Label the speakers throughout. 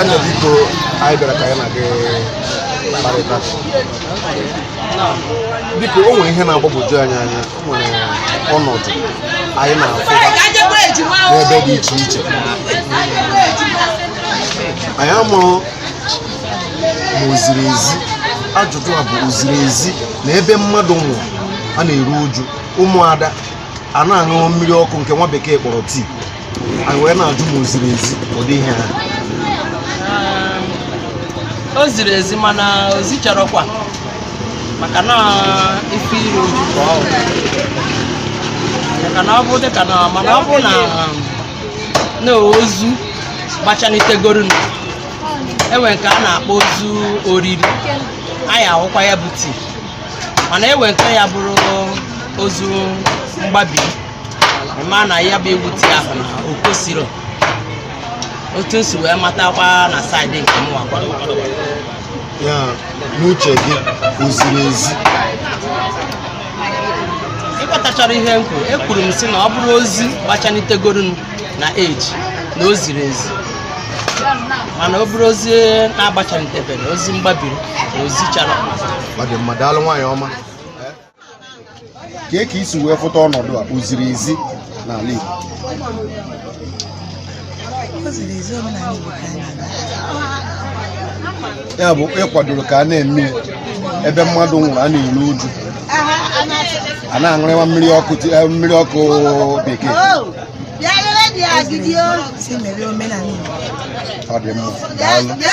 Speaker 1: Enyi biko anyị bịara ka anyị na gị kparịta biko o nwere ihe na-agbagwoju anyị anya nwere ọnọdụ anyị na-afụba n'ebe dị iche iche anyị amaghị ma o ziri ezi ajụjụ a bụ o ziri ezi na ebe mmadụ nwụrụ a na-eru uju ụmụada a na-aṅụ mmiri ọkụ nke nwa bekee kpọrọ tii anyị wee na-ajụ ma o ziri ezi ụdị ihe ahụ
Speaker 2: Um, o ziri ezi mana o zicharọkwa maka na ife iri uju ka ọ bụ. maka na ọ bụ dịka na mana ọ bụ na um, na ozu gbachanitegoro na e nwee nke a na-akpọ ozu oriri anyị aṅụkwa ya bụ tii mana e nwee nke ya bụrụ ozu mgbabi mana ya bụ ịṅụ tii ahụ na o kwesịrọ otu m si wee matakwa na saịdị nke mụwakwa
Speaker 1: ya n'uche gị o ziri ezi
Speaker 2: ị ghọtacharọ ihe m kwuru ekwuru m sị na ọ bụrụ ozu gbachanitegoro m na eji na o ziri ezi mana ọ bụrụ ozu na-agbachanitebere ozu mgbabiri na o zicharọ ọ dị mma daalụ
Speaker 1: nwaanyị ọma kee ka i si wee fụta ọnọdụ a o ziri ezi n'ala Igbo O ziri ezi omenala Igbo ka anyị na-aga. ya bụ ị kwadoro ka a na-eme ebe mmadụ nwụrụ a na-eru uju a na-aṅụrịwa mmiri ọkụ ti- eh, mmiri ọkụ bekee Si mere omenala Igbo. ọ dị mma daalụ Bịa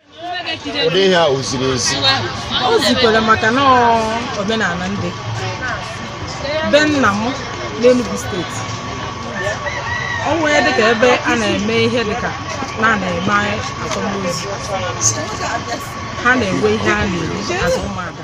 Speaker 1: ụdị ihe a o ziri ezi o
Speaker 3: zikwere maka na ọ omenala ndị be nna m n'Enugu steeti o nwee dịka ebe a na-eme ihe dịka na a na-eme akwamozu ha na-enwe ihe a na-eri azụ ụmụada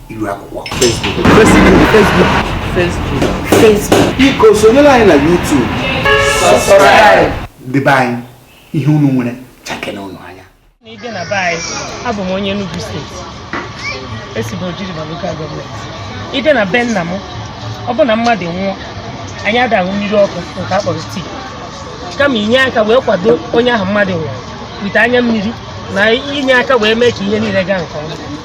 Speaker 4: iru akwụkwọ
Speaker 5: Facebook biko
Speaker 1: sonyere anyị na YouTube subscribe
Speaker 4: debe anyị ihe unu nwere chakene unu anya na i je na be anyị
Speaker 3: abụ m onye Enugu steeti esi m Oji River lokal gọọmenti i je na be nna m ọ bụ na mmadụ nwụọ anyị ada aṅụ mmiri ọkụ nke a kpọrọ tii kama inye aka wee kwado onye ahụ mmadụ nwụrụ wite anya mmiri na inye aka wee mee ka ihe niile gaa nke ọma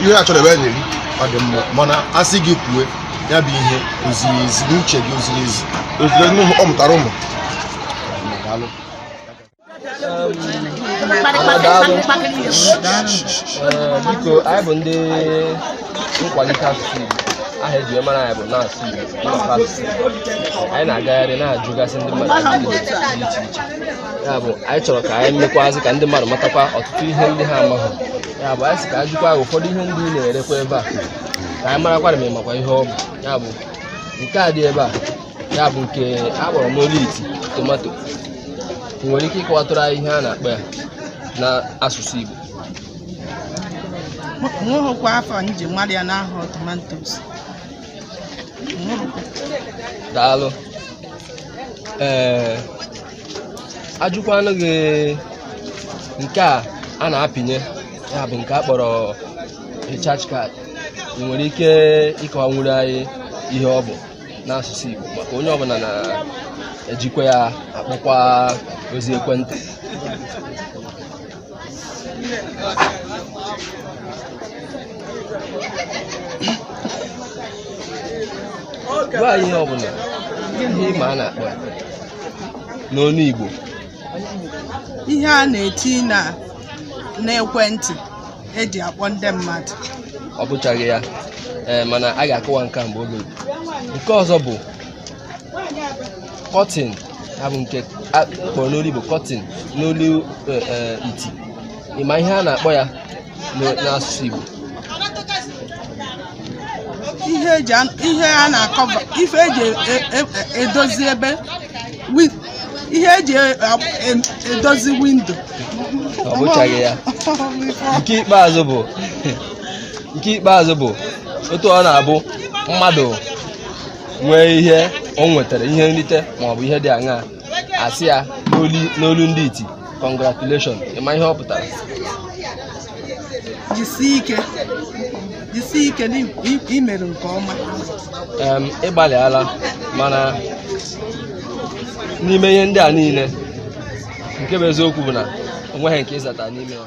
Speaker 1: ihe a chọrọ ebe a na-eri ọ dị mma mana a sị gị kwue ya bụ ihe o ziri ezi n'uche gị o ziri ezi o ziri ezi n'ụmụ ọ mụtara ụmụ Daalụ.
Speaker 6: Ee, biko anyị bụ ndị nkwalite asụsụ Igbo aha eji wee mara anyị bụ na-asụ Igbo na-asụ asụsụ Igbo. anyị na-agagharị na-ajụgasị ndị mmadụ ajụjụ dị iche iche ya bụ anyị chọrọ ka anyị mekwazị ka ndị mmadụ matakwa ọtụtụ ihe ndị ha amaghị ya bụ anyị sị ka anyị jụkwa gị ụfọdụ ihe ndị ị na-erekwa ebe a ka anyị marakwara ma ị makwa ihe ọ bụ ya bụ nke a dị ebe a ya bụ nke a kpọrọ n'olu iti tomato ị nwere ike ịkọwatụrụ anyị ihe a na-akpọ ya n'asụsụ
Speaker 2: Igbo nweghịkwa afa m ji mara ya n'ahụ tomantos
Speaker 6: daalụ ee ajụkwanụ gị nke a a na-apịnye ya bụ nke a kpọrọ recharge card ị nwere ike ịkọwanwuru anyị ihe ọ bụ n'asụsụ Igbo maka onye ọbụla na-ejikwa ya akpọkwa ozi ekwentị gwa anyị ihe ọbụla ihe ị ma a na-akpọ ya n'onu
Speaker 2: Igbo ihe a na-etinye n'ekwentị eji akpọ ndị mmadụ ọ bụchaghị
Speaker 6: ya ee mana a ga-akọwa nke a mgbe oge nke ọzọ bụ curtain ya bụ nke a kpọrọ n'olu igbo curtain n'olu eh, eh, iti ị ma ihe a na-akpọ ya n'o- n'asụsụ igbo
Speaker 2: ihe eji an- ihe a na-akọva ife eji e- e- e- edozi ebe wi- ihe eji e- e- edozi windo
Speaker 6: ọ bụchaghị ya nke ikpeazụ bụ nke ikpeazụ bụ otu ọ na-abụ mmadụ nwee ihe o nwetara ihe nrite maọbụ ihe dị aṅaa a sị ya n'olu ndị iti congratulation ị ma ihe ọ pụtara jisie ike
Speaker 2: jisie ike na i mere nke
Speaker 6: ọma ị gbalịala mana n'ime ihe ndị a niile nke bụ eziokwu bụ na o nweghị nke ị zata n'ime ya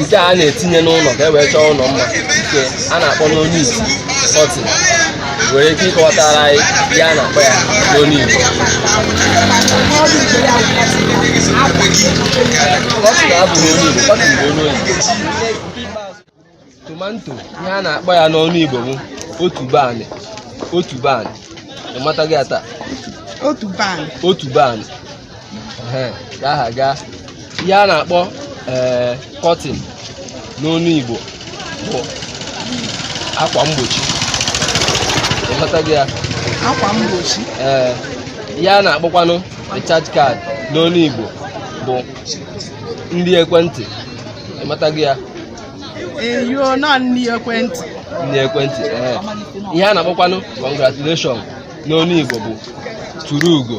Speaker 6: nke a na-etinye n'ụlọ ka e wee chọọ ụlọ mma nke a na-akpọ n'onu iti curtain ị nwere ike ịkọwatara anyị ihe a na-akpọ ya n'onu Igbo curtain abụghị onu Igbo curtain bụ onu oyibo tomanto ihe a na-akpọ ya n'onu Igbo bụ otuboanị otuboanị ị matago ya taa otuboanị otuboanị Ehe, ka aha gaa ihe a na-akpọ ee curtain n'onu igbo bụ akwa mgbochi ị ghọtago ya akwa mgbochi
Speaker 2: ee
Speaker 6: ihe a na-akpọkwanụ recharge card n'onu igbo bụ nri ekwentị ị matago ya
Speaker 2: you know nri ekwentị nri ekwentị
Speaker 6: ee ihe a na-akpọkwanụ congratulation n'onu igbo bụ turu ugo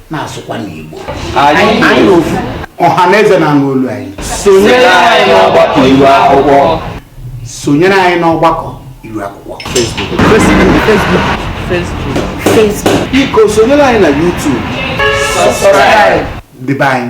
Speaker 4: na-asụkwanụ Igbo
Speaker 3: anyị ofu ọha na
Speaker 4: eze na-anụ olu anyị sonyere anyị
Speaker 6: n'ọgbakọ iru akwụkwọ sonyere
Speaker 4: anyị n'ọgbakọ iru akwụkwọ biko
Speaker 5: sonyere
Speaker 7: anyị na YouTube
Speaker 6: dịbe anyị